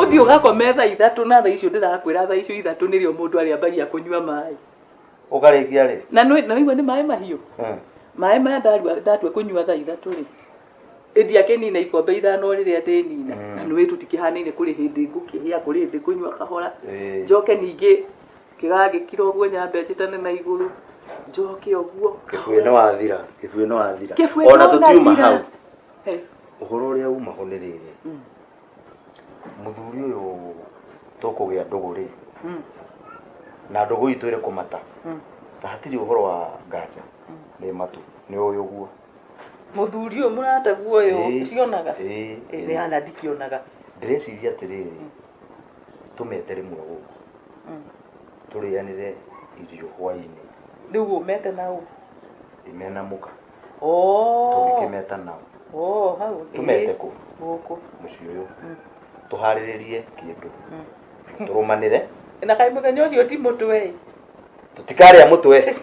Ũthiĩ ũgakome thaa ithatũ na thaa icio ndĩrakwĩra thaa icio ithatũ nĩrĩo mũndũ arĩambagia kũnyua maĩ. Ũkarĩkia rĩ? Na nĩwaigua nĩ maĩ mahiũ? Hmm. Maĩ maya ndatua kũnyua thaa ithatũ rĩ, ĩndia kĩnina ikombe ithano rĩrĩa ndĩnina hmm. na nĩ wĩ tũtikĩhanaine kũrĩ hĩndĩ ngũkĩhĩa kũrĩ hĩndĩ ngũnyua kahora eh. njoke ningĩ kĩgagĩkira ũguo nyambe njĩtane na igũrũ njoke ũguo. Kĩbuĩ nĩ wathira, kĩbuĩ nĩ wathira. Kĩbuĩ nĩ wathira. Ona tũtiuma hau. Ũhoro ũrĩa umaho nĩ rĩrĩ, mũthuri ũyũ tũkũgĩa ndũgũ rĩ, na ndũgũ itũ ĩrĩ kũmata, na hatirĩ ũhoro wa nganja, nĩ matu, nĩ ũĩ ũguo. Mũthuri ũyũ mũrataguo ũyũ Ĩĩ. ũcionaga? Ĩĩ. Ĩĩ, nĩ hana ndikĩonaga. Ndĩreciria atĩrĩrĩ, tũmete rĩmwe gũkũ, Mm. tũrĩanĩre irio hwainĩ, Rĩu ũmete na ũ? ndimena mũka. Oh. tũngĩkĩmeta nao Oh, hau. ĩĩ. tũmete kũ Gũkũ. mũciĩ ũyũ Mm. tũharĩrĩrie kĩndũ Mm. tũrũmanĩre Na kaĩ mũthenya ũcio ti mũtwe ĩ. tũtikarĩa mũtwe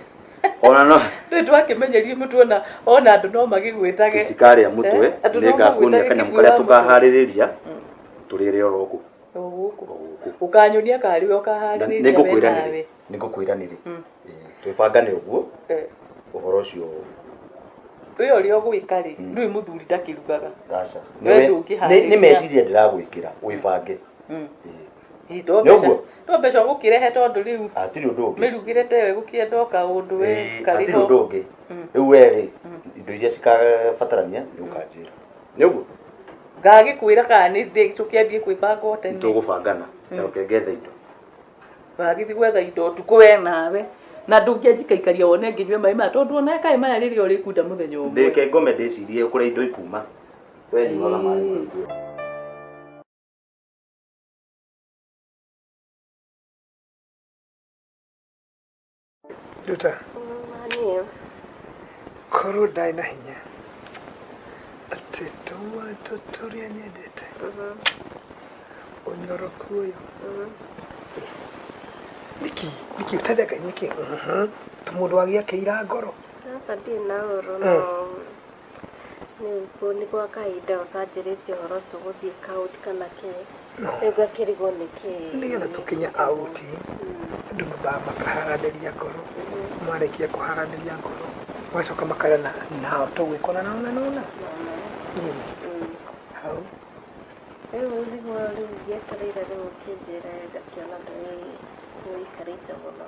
ona no Rĩu twakĩmenyerie mũtwe na ona andũ no magĩgwĩtage. tũtikarĩa mũtwe Eh, andũ no nĩ ngakuonia magwĩtage kanyamũ kĩbuu karĩa wa mũtwe. tũkaharĩrĩria Mm. tũrĩre oro gũkũ O gũkũ. o gũkũ Ũkanyonia karĩ we na ũkaharĩrĩria nĩ ngũkwĩra we nĩ nawe. nĩ ngũkwĩra nĩrĩ twĩbangane ũguo Eh, ũhoro ũcio we ũrĩa ũgwĩka rĩ ndũĩ mũthuri ndakĩrugaga gaca Wee ndũngĩharĩria. nĩ meciria ndĩragwĩkĩra wĩbange Mm. Eh, Ĩ, to Nĩ ũguo? mbeca- to mbeca ũgũkĩrehe tondũ rĩu hatirĩ ũndũ ũngĩ mĩrugĩre ta ĩyo ĩgũkĩenda o kaũndũ we Eh, karĩ hatirĩ ho. ũndũ ũngĩ Mm. rĩu werĩ indo iria cikabatarania nĩ ũkanjĩra nĩ ũguo ngagĩkwĩra kana nĩ ndĩ- tũkĩambie kwĩbanga o tene tũgũbangana na ũkengetheindo Wagĩthi gwetha indo ũtukũ we nawe na ndũngĩanjikaikaria wone nginyue maĩ maya tondũ ona kaĩ maya rĩrĩa ũrĩkunda mũthenya ũmwe ndĩke ngome ndĩcirie kũrĩa indo ikuma we nyuaga maĩ maingĩ nduta korwo ndaĩ na hinya atĩ tũmantũ tũrĩa nyendete ũnyoroku ũyũ nĩkĩ nĩkĩ ũtendeka nĩkĩ tũmũndũ wagĩakĩira ngoro Sasa ndirĩ na ũrũ no Rĩu kũu nĩ gwa kahinda gakanjĩrĩtie ũhoro tu gũthiĩ kaũti kana kĩ rĩu ngakĩrigwo nĩ kĩ nĩgetha tũkinye auti andũ mambaga makaharanĩria ngoro marĩkia kũharanĩria ngoro magacoka makara na nao tũgwĩkona na ona nona nini hau rĩu nĩguo rĩu ngĩetereire rĩu kĩnjĩre ngakĩona ndũĩ nĩikarĩte mũno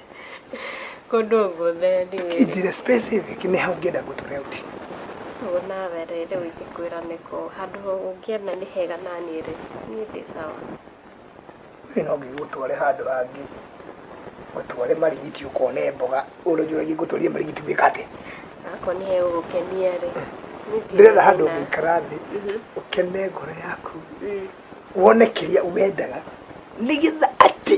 kũndũ guothe ndĩwĩ Njĩra specific nĩ ha ũngĩenda ngũtware ũthiĩ. ũguo nawe rĩ rĩu ingĩkwĩra nĩkũ handũ ũngĩenda nĩ hega na niĩ rĩ niĩ ndĩ sawa Niĩ no ngĩgũtware handũ hangĩ, ngũtware Marigiti ũkone mboga. Ũrĩa ũnjũragia ingĩgũtwarire Marigiti gwĩka atĩa? akorwo nĩ hegũgũkenia rĩ niĩ ndirĩ Ndĩrenda handũ thĩna. ũngĩikara thĩ, ũkene ngoro yaku, wone kĩrĩa wendaga, nĩgetha atĩ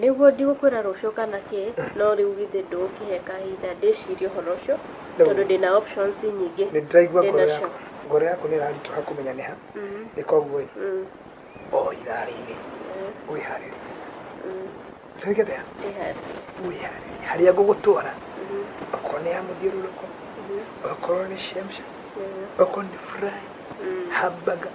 Nĩguo ndigũkwĩra rũciũ kana kĩ, no rĩu githĩ ndũgũkĩhe kahinda ndĩcirie ũhoro ũcio, tondũ ndĩ na options nyingĩ Nĩ ndĩraigua ndĩ ngoro nacio. yaku. Ngoro yaku nĩ ĩraritũha kũmenya nĩ ha. Nĩ koguo-ĩ, Mm, o ithaa rĩrĩ mm, wĩharĩrie. mm, Nĩwĩkĩte ya? ndĩharĩrie. Wĩharĩrie. Harĩa ngũgũtwara, Mhm, okorwo nĩ ya mũthiũrũrũko, mhm, okorwo nĩ shemsha, mhm, okorwo nĩ fry, mm. hamburger,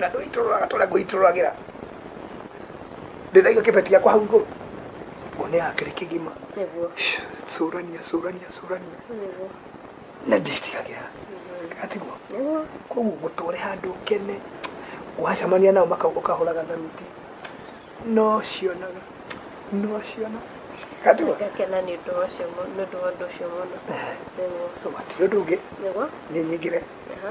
na ndũitũrũraga tũrĩa ngũitũrũragĩra ndĩraiga kĩbeti gĩakwa hau igũrũ ngone ya kĩrĩ kĩgima nĩguo cũrania cũrania cũrania nĩguo na ndĩtigagĩra atiguo nĩguo koguo ngũtware handũ kene wacemania nao maka- ũkahũraga tharuti no cionaga no ciona atiguo ngakena nĩ ũndũ wa ũcio mu- nĩ ũndũ wa ũndũ ũcio mũno nĩguo so hatirĩ ũndũ ũngĩ nĩguo nĩ nyingĩre aha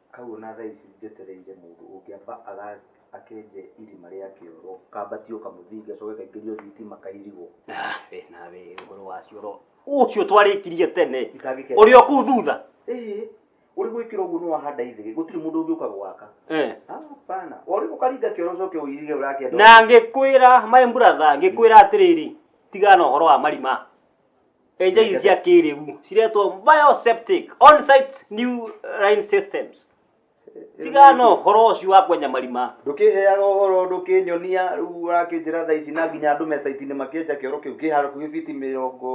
Hau ona thaa ici njetereire mũndũ ũngĩamba akenje irima rĩa kĩoro, kambatio kamũthingi gacoke kaingĩrio thitima kairigwo. Wee nawe ũhoro wa cioro ũcio twarĩkirie tene, ũrĩ o kũu thutha. Ũrĩ gwĩkĩra ũguo nĩ wahanda ithĩgĩ, gũtirĩ mũndũ ũngĩũka gwaka. Hapana, ũrĩ ũkaringa kĩoro ũcoke ũirige ũrakĩenda. Na ngĩkwĩra my brother, ngĩkwĩra atĩrĩrĩ, tigana na ũhoro wa marima. Enja ici cia kĩrĩu ciretwo bioseptic on-site new line systems tiga no ũhoro ũcio wa kwenja marima ndũkĩheaga ũhoro ndũkĩnyonia rĩu ũrakĩnjĩra thaa ici na nginya andũ mecaiti-inĩ makĩenja kĩoro kĩu kĩ hakuhĩ biti mĩrongo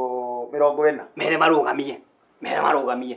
mĩrongo ĩna mere marũgamie mere marũgamie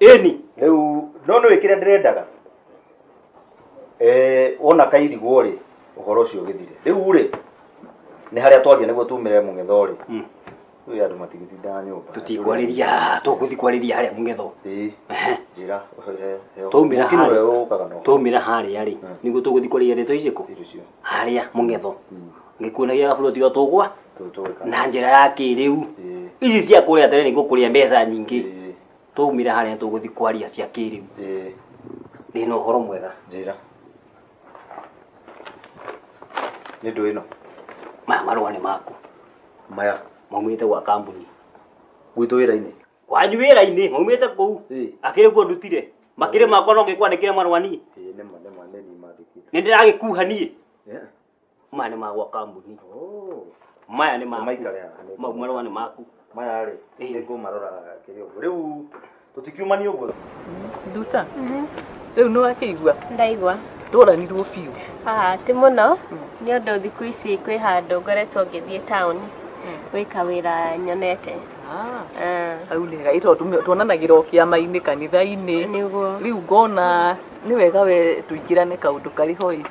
ĩni rĩu no nĩ wĩkĩre ndĩrendaga Eh, wona kairigwo rĩ ũhoro ũcio ũgĩthire rĩu rĩ nĩ harĩa twaria nĩguo tumĩre mũng'etho rĩ rĩu andũ matigĩtindaga nyũmba tũtikwarĩria haha tũgũthiĩ kwarĩria harĩa mũng'etho Ĩĩ, njĩra he- he- twaumĩra Mũkino harĩa ũyũ ũkaga na ũhoro. twaumĩra harĩa rĩ nĩguo tũgũthiĩ kwarĩria ndeto icio kũ harĩa mũng'etho gĩkuũ nĩ gĩa buroti o tũgwa tũtũrĩka na njĩra ya kĩrĩu Ĩĩ, ici cia kũrĩa tene nĩ gũkũrĩa mbeca nyingĩ ĩĩ, twaumire harĩa tũgũthiĩ kwaria cia kĩrĩu ĩĩ, ndĩ na ũhoro mwega njĩra nĩ ndũ ĩno maya marũa nĩ maku maya maumĩte gwa kambuni gwitũ wĩra-inĩ kwanyu wĩra-inĩ maumĩte kũu Ĩĩ. akĩrĩ kuo ndutire makĩrĩ makwa no ngĩkwandĩkĩre marũa niĩ Ĩĩ, nĩ ma nĩ ma nĩ niĩ mandĩkĩte nĩ ndĩragĩkuha niĩ Yeah. maya nĩ magwa kambuni maya nĩ maku Maikare haha, nĩ mau marũa nĩ maku maya rĩ nĩ ngũmarora kĩrĩ ũguo rĩu tũtikiumania ũguo nduta rĩu nĩ wakĩigua ndaigua tũranirwo biũ Ah, ti mũno nĩ ũndũ thikũ ici kwĩ handũ ngoretwo ngĩthiĩ taũni gwĩka wĩra nyonete Ah, hau nĩ gai tondũ tuonanagĩra o kĩama-inĩ kanitha-inĩ nĩguo rĩu ngona nĩ wega we tũingĩrane kaũndũ karĩ hoi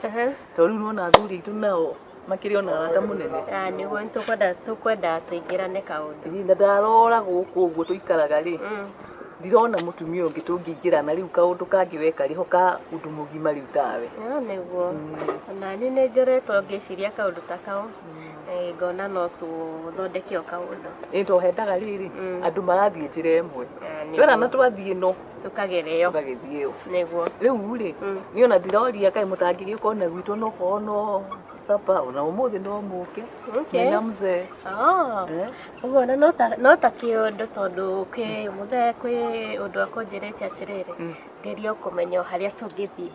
Tondũ rĩu nĩwona athuri aitũ nao makĩrĩ ona arata mũnene. Ah, nĩguo nĩtũkwenda tũkwenda tũingĩrane kaũndũ Ĩ, Na ndarora gũkũ ũguo tũikaraga rĩ, Mm. ndirona mũtumia ũngĩ tũngĩingĩrana rĩu kaũndũ kangĩ weka rĩho ka ũndũ mũgima rĩu tawe. Ah, nĩguo nani nĩ njoretwo ngĩciria kaũndũ ta kau Eh, ngona no tũthondeke o kaũndũ Ĩ, to hendaga rĩrĩ, Mm. andũ marathiĩ njĩra ĩmwe. Ah, nĩguo. Wera na twathiĩ no tũkagere yo tũgagĩthiĩ yo nĩguo rĩu rĩ Mm. niĩ ona ndiroria kaĩ mũtangĩria ũkorwo na gwitũ no korwo no sapa ona ũmũthĩ no mũke Okay. mena mzee Ah, Eh? ũguo na no ta- no ta kĩũndũ tondũ kĩ mũthee kwĩ ũndũ akũnjĩrĩte atĩrĩrĩ Mm. ngeria kũmenya o harĩa tũngĩthiĩ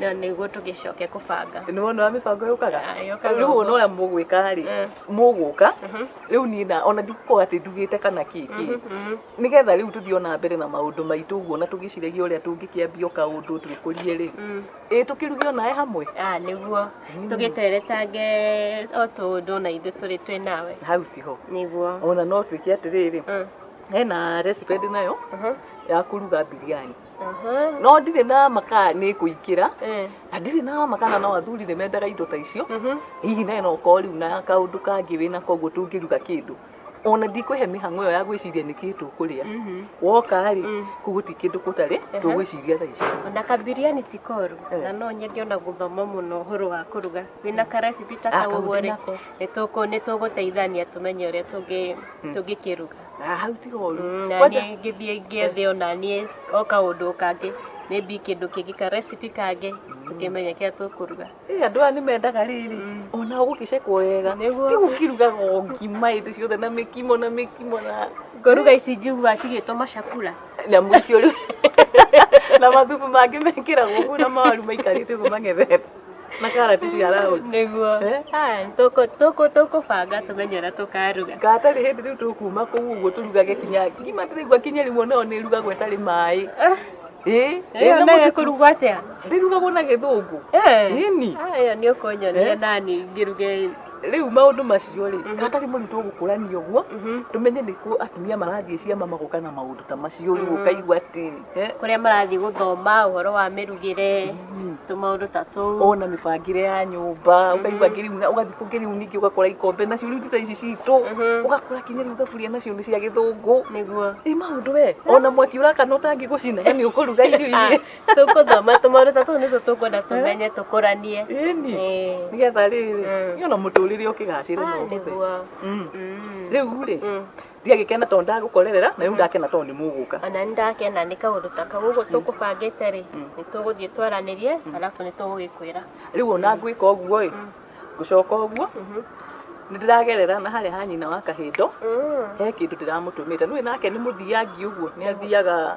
na nĩguo tũgĩcoke kũbanga nĩ wona wa mĩbango yũkaga Ah, yũkaga rĩu ũguo. wona ũrĩa mũgwĩka rĩ Mm. mũgũka Mhm. rĩu niĩ na ona ndikukorwo atĩ ndugĩte kana kĩkĩ Mhm. nĩgetha rĩu tũthiĩ ona mbere na maũndũ maitũ ũguo na tũgĩciragia ũrĩa tũngĩkĩambia o kaũndũ twĩkũrie rĩ Mm. ĩ tũkĩruge onae hamwe Ah, nĩguo Mm. tũgĩteretange o tũũndũ na ithuĩ tũrĩ twĩ nawe hau tiho nĩguo ona no twĩke atĩrĩrĩ Mm. hena recipe ndĩ nayo Mhm. ya kũruga biriani no ndirĩ na makara nĩ kũingĩra na ndirĩ na makara no athuri nĩ mendaga indo ta icio hihi nawe no ũkorwo rĩu na kaũndũ kangĩ wĩna koguo tũngĩruga kĩndũ ona ndikwĩhe mĩhang'o ĩyo ya gwĩciria nĩkĩ tũkũrĩa woka rĩ kũu gũtirĩ kĩndũ gũtarĩ tũgwĩciria thaa ici Ona kabiriani ti koru na no nyende ona gũthoma mũno ũhoro wa kũruga wĩna ka recipe ta Ah, kau kau ũguo rĩ ndĩnako. nĩ tũkũ- nĩ tũgũteithania tũmenye ũrĩa tũngĩ- tũngĩkĩruga Ah, hau tiga ũru Mm, na Kwanja- niĩ ngĩthiĩ ngĩethe ona niĩ o kaũndũ kangĩ maybe kĩndũ kĩngĩ ka recipe kangĩ tũkĩmenye kĩrĩa tũkũruga Ĩ, andũ aya nĩ mendaga rĩrĩ ona ũgũkĩcekwo wega Nĩguo. tiga ũkĩrugaga o ngima hĩndĩ ciothe na mĩkimo na mĩkimo na ngoruga ici njigua cigĩtwo macakura nyamũ icio rĩu na mathubu mangĩ mekĩragwo ũguo na mawaru maikarĩte ũguo mang'ethete na karati cia raũndi nĩguo Eh? Aya, tũkũ- tũkũ- tũkũbanga tũmenye ũrĩa tũkaruga gatarĩ hĩndĩ rĩu tũkuma kũu ũguo tũrugage kinya ngima ndĩraigua kinya rĩmwe nayo nĩ ĩrugagwo ĩtarĩ maĩ ĩĩ ĩyo ĩna nayo mũtu- ĩkũrugwo atĩa ndĩrugagwo na gĩthũngũ Eh. Nini. aya nĩ ũkũnyonia Eh? nani ngĩruge rĩu maũndũ macio rĩ gatarĩ mũndũ tũgũkũrania ũguo tũmenye nĩkuo atumia marathiĩ ciama magoka na maũndũ ta macio rĩu ũkaigua atĩ kũrĩa marathiĩ gũthoma ũhoro wa mĩrugĩre tũmaũndũ ta tũu ona mĩbangĩre ya nyũmba ũkaigua ngĩriu na ũgathiĩ kũ ngĩriu ningĩ ũgakora ikombe nacio rĩu ti ta ici citũ ũgakora kinya rĩu thaburia nacio nĩ cia gĩthũngũ nĩguo ĩ maũndũ we ona mwaki ũrakana ũtangĩgũcina na nĩ ũkũruga irio iria tũkũthoma tũmaũndũ ta tũu nĩtwo tũkwenda tũmenye tũkũranie ĩni Ĩĩ. nĩgetha rĩrĩ Mm. nĩ ona mũtũrĩre ũkĩgacĩre Ah, no ũhũthe nĩguo rĩu rĩ Mm. tiga gikena tondu ndagukorerera na riu ndakena tondu ni muguka ona nĩ ndakena nĩ kaũndũ ta kau ũguo tũkũbangĩte rĩ nĩ tũgũthiĩ twaranĩrie arabu nĩ tũgũgĩkwĩra riu ona ngwika uguo i ngucoka uguo nĩ ndĩragerera na harĩa ha nyina wa kahindo he kindu ndĩramutumite nui nake nĩ muthiangi uguo nĩ athiaga